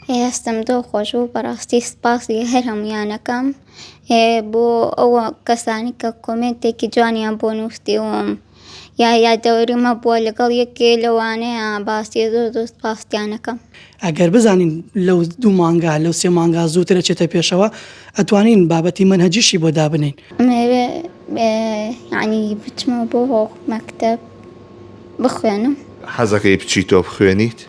هەستم دڵ خۆش بوو بەڕاستی سپاسی هەر هەموویانەکەم بۆ ئەو کەسانی کە کۆمێنتێکی جوانیان بۆ نووسیوم یا یادەوەری مە بووە لەگەڵ یەکێ لەوانەیە باسی زۆر زۆر سپاستیانەکەم ئەگەر بزانین لەو دوو مانگا لەو سێ مانگا زووترە چێتە پێشەوە ئەتوانین بابەتی منهجیشی بۆ دابنین ئەمەوێ یعنی بچمە بۆ هۆ مەکتب بخوێنم حەزەکەی بچی تۆ بخوێنیت؟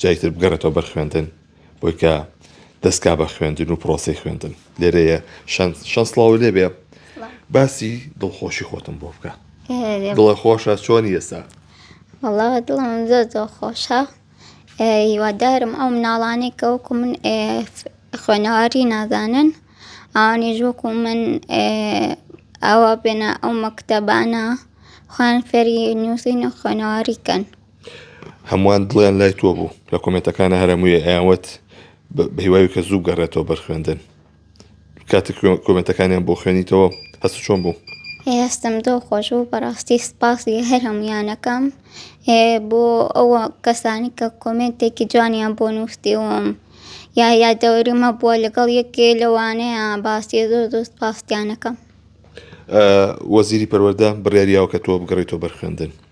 جاری تر بگەڕێتەوە بەر خوێندن بۆی کە دەستکا بە خوێندن و پرۆسی خوێندن لێرەیە شەند شەست سڵاو لێ بێ باسی دڵخۆشی خۆتم بۆ بکە دڵە خۆشە چۆنی ئێستا وڵاوە دڵم زۆر زۆر خۆشە هیوادارم ئەو مناڵانێک کەوەکو من خوێنەواری نازانن ئەوانیش وەکو من ئەوە بێنە ئەو مەکتتەبانە خوان فێری نووسین و خوێنەواری کەن هەمووان دڵیان لای تۆ بوو لە کۆمێنتەکانا هەر هەمووی ئەیان وت بە هیوای کە زوو بگەڕێتەوە بەر خوێندن کاتێک کۆ- کۆمێنتەکانیان بۆ خوێنیتەوە هەست چۆن بوو ئێ هەستم زۆر خۆش بوو بەڕاستی سپاسی هەر هەموویانەکەم ئێ بۆ ئەوە کەسانی کە کۆمێنتێکی جوانیان بۆ نووسیوم یا یادەوەریمە بووە لەگەڵ یەکێ لەوانەیە باسی زۆر زۆر سپاستیانەکەم ئە، وەزیری پەروەردە بڕیاریاوە کە تۆ بگەڕێیتەوە بەر خوێندن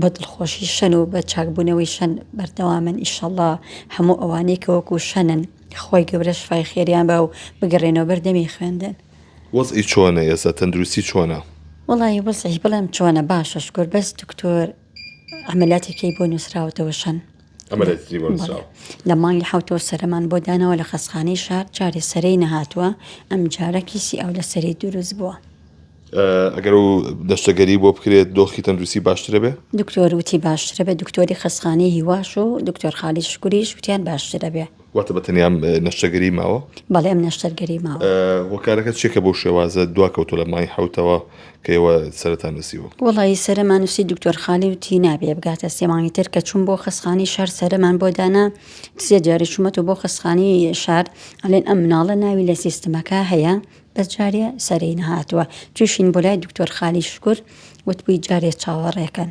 بە دڵخۆشی شەن و بە چاکبوونەوەی شەن بەردەوامن ئیشەڵا هەموو ئەوانەی کە وەکو شەنن خوای گەورە شفای خێریان با و بگەڕێنەوە بەر دەمی خوێندن. وەزعی چۆنە ئێستا تەندروستی چۆنە؟ وەڵایی وەزعی بڵێم چۆنە باشە شکور بەس دکتۆر عەمەلیاتێکی بۆ نووسراوەتەوە شەن عەمەلیاتێکی بۆ نووسراوە لە مانگی حەوتەوە سەرەمان بۆ دانەوە لە خەسخانەی شار جارێ سەرەی نەهاتووە ئەم جارە کیسی ئاو لە سەری دروست بووە ئەگەر و دەشتەگەری بۆ بکرێت دۆخی تەندروستی باشترە بێ دکتۆر وتی باشترە بێ دکتۆری خەسخانەی هیواش و دکتۆر خالی شکوریش وتیان باشترە بێ واتە بە تەنیا نەشتەگەری ماوە بەڵێ ئەم نەشتەرگەری ماوە هۆکارەکە چێکە بۆ شێوازە دوا کەوتۆ لە مای حوتەوە کەەوە سەرەتا نووسیوە وڵی سەرمان نووسی دکتۆر خالی و تینا بێ بگاتە سێمانی تر کە چوون بۆ خەسخانی شار سەرمان بۆ دانا سێ جاری چوومەت و بۆ خەسخانی شار ئەلێن ئەم مناڵە ناوی لە سیستمەکە هەیە بەس جارێ سەرێی نەهاتووە. چوویشین بۆ لای دکتۆر خالید شکور وتبووی جارێ چاوەڕێ کەن.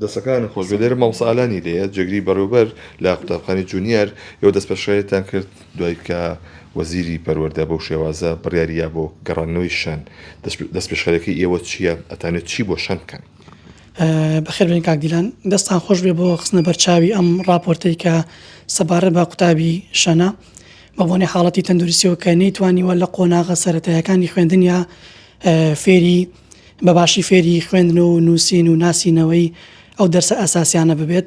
دەستەکانت خۆشبێت لێرە مامۆستا ئالانی لێیە جێگری بەڕێوبەر لە قوتابخانەی جونیەر یەوە دەست پێشخەریتان کرد دوای کە وەزیری پەروەردە بەو شێوازە بڕیاری یا بۆ گەڕاندنەوەی شەن دەست پێشخەرەکەی ئێوە چیە ئەتانێت چی بۆ شەن بکەن. بەخێر بێن کاک دیلان دەستان خۆش بێ بۆ خستنە بەرچاوی ئەم ڕاپۆرتەی کە سەبارەت بە قوتابی شەنە. بەبۆنەی حاڵەتی تەندروستیەوە کە نەیتوانیوە لە قۆناغە سەتایەکانی خوێندنیا فێری بەباشی فێری خوێندن و نووسین و ناسینەوەی ئەو دەرسە ئەساسیانە ببێت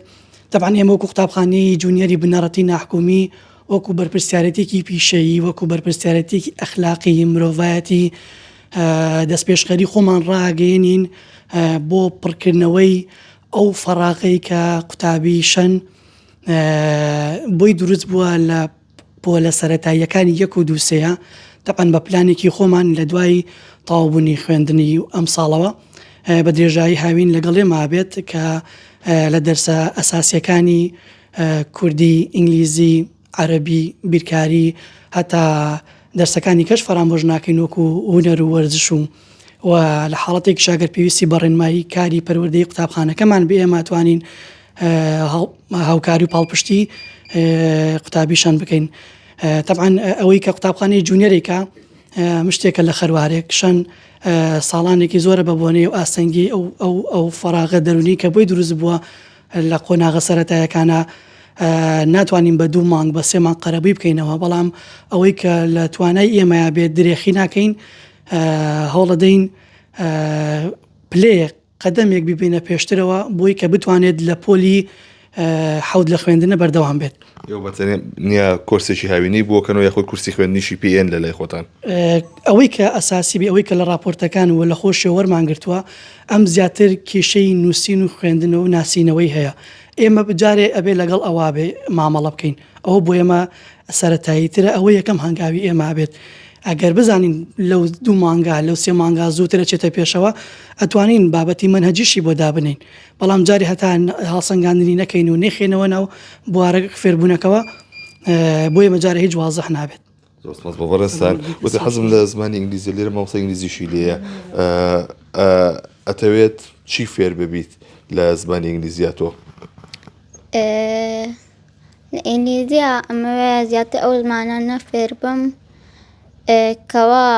دەبان ئێمە وەکو قوتابخانی جونیەری بنەڕەتی ناحکومی وەکو بەرپرسیارەتێکی پیشەیی وەکو بەرپرسیارەتێکی ئەخلاقی مرۆڤایەتی دەست پێشخەری خۆمان ڕاگەێنین بۆ پڕکردنەوەی ئەو فەراغی کە قوتابی شەن بۆی دروست بووە لە پۆلە سەتاییەکانی یەک و دووسەیە تەقەن بە پلانێکی خۆمان لە دوای تاوبوونی خوێندنی و ئەم ساڵەوە بە درێژایی هاوین لەگەڵێ مابێت کە لە دەرسە ئەساسیەکانی کوردی ئینگلیزی عەربی بیرکاری هەتا دەرسەکانی کەش فەرامۆژ ناکەین وەکو هوەر و وەرزش و و لە حاڵەتێک شاگەر پێویستی بە ڕێنمایی کاری پەروەردەی قوتابخانەکەمان بێماتوانین هاوکاری و پاڵپشتی قوتابی شان بکەین تەعاان ئەوەی کە قوتابخانەی جوونیەرێکە مشتێکە لە خەروارێک شەن ساڵانێکی زۆرە بە بۆنەی و ئاستەنگی ئەو ئەو ئەو فراغە دەرونی کە بۆی دروست بووە لە قۆناغە سەتایەکانە ناتوانین بە دوو مانگ بە سێمان قەرەبووی بکەینەوە بەڵام ئەوەی کە لە توانای ئێمە بێت درێخی ناکەین هەوڵەدەین پلەیەک قەدەمێک ببەینە پێشترەوە بۆی کە بتوانێت لە پۆلی حەوت لە خوێندنە بەردەوام بێت نیە کۆرسێکی هاوینەی بۆکەنەوە یاخود کورسی خوێندنیشی پێێن لە لای خۆتان ئەوەی کە ئەساسی بێ ئەوەی کە لە راپۆرتەکان و لە خۆشی وەرمان گرتووە ئەم زیاتر کیشەی نووسین و خوێندنەوە و ناسینەوەی هەیە ئێمە بجارێ ئەبێ لەگەڵ ئەوابێ مامەڵە بکەین. ئەوە بۆ ئێمە سەرەتاییترە، ئەوە یەکەم هەنگاوی ئێمە ئەبێت، ئەگەر بزانین لەو دوو مانگا، لەو سێ مانگا زووتر ئەچێتە پێشەوە، ئەتوانین بابەتی مەنهەجیشی بۆ دابنێین، بەڵام جارێ هەتا هەڵسەنگاندنی نەکەین و نەیخەینەوە ناو بوارە فێربوونەکەوە، بۆ ئێمە جارێ هیچ وازح نابێت. زۆر سپاس بۆ بەڕێزتان وتە حەزم لە زمانی ئینگلیزی لێرە مامۆستا ئینگلیزیشی لێیە ئەتەوێت چی فێر ببیت لە زمانی ئینگلیزیا تۆ ئینگلیزیا ئەمەوێ زیاتر ئەو زمانانە فێر بم کەوا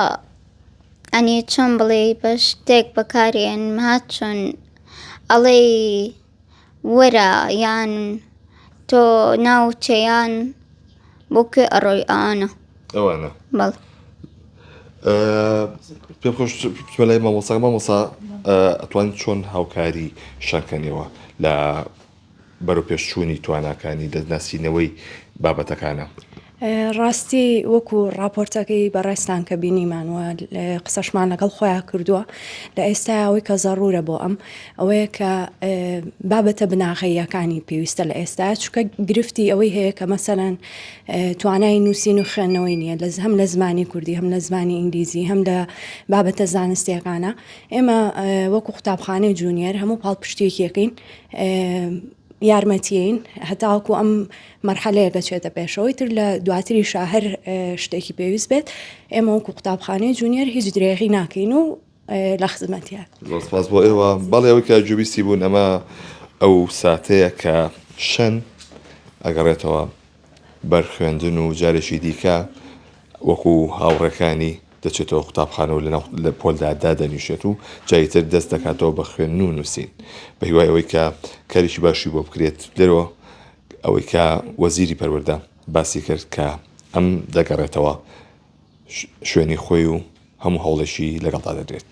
ئەنی چۆن بڵێ بە شتێک بەکارێن مات چۆن ئەڵێی وەرە یان تۆ ناوچەیان بۆ کوێ ئەڕۆی ئەوانە ئەوانە بەڵ پێ خۆش لای مامۆسا مامۆسا ئەتوان چۆن هاوکاری شەکەنەوە لە بەرەو پێشچوونی تواناکانی دەستناسینەوەی بابەتەکانە. ڕاستی وەکو ڕاپۆرتەکەی بەڕێزتان کە بینیمان و قسەشمان لەگەڵ خۆیان کردووە لە ئێستا ئەوەی کە زەڕورە بۆ ئەم ئەوەیە کە بابەتە بناغەییەکانی پێویستە لە ئێستا چکە گرفتی ئەوەی هەیە کە مەسەەن توانای نووسین و خوێندنەوەی نییە لە هەم لە زمانی کوردی هەم لە زمانی ئینگلیزی هەم لە بابەتە زانستیەکانە ئێمە وەکو قوتابخانەی جوونیەر هەموو پاڵپشتێکیەکەین یارمەتیین هەتاوەکو ئەم مەرحەلەیە دەچێتە پێشەوەی تر لە دواتری شاهر شتێکی پێویست بێت ئێمە وەکو قوتابخانەی جونیەر هیچ درێغی ناکەین و لە خزمەتە سپاس بۆ ئێوە بەڵێەوە کە جوویستی بوون ئەمە ئەو ساتەیە کە شەن ئەگەڕێتەوە بەر خوێندن و جارێکی دیکە وەکو هاوڕێکانی دەچێتەوە قوتابخانە و لەناو لە پۆلدا دادەنیشێت و جاری تر دەست دەکاتەوە بە خوێندن و نووسین بە هیوای ئەوەی کە کاریکی باشی بۆ بکرێت لێرەوە ئەوەی کە وەزیری پەروەردە باسی کرد کە ئەم دەگەڕێتەوە شوێنی خۆی و هەموو هەوڵێکی لەگەڵدا دەدرێت.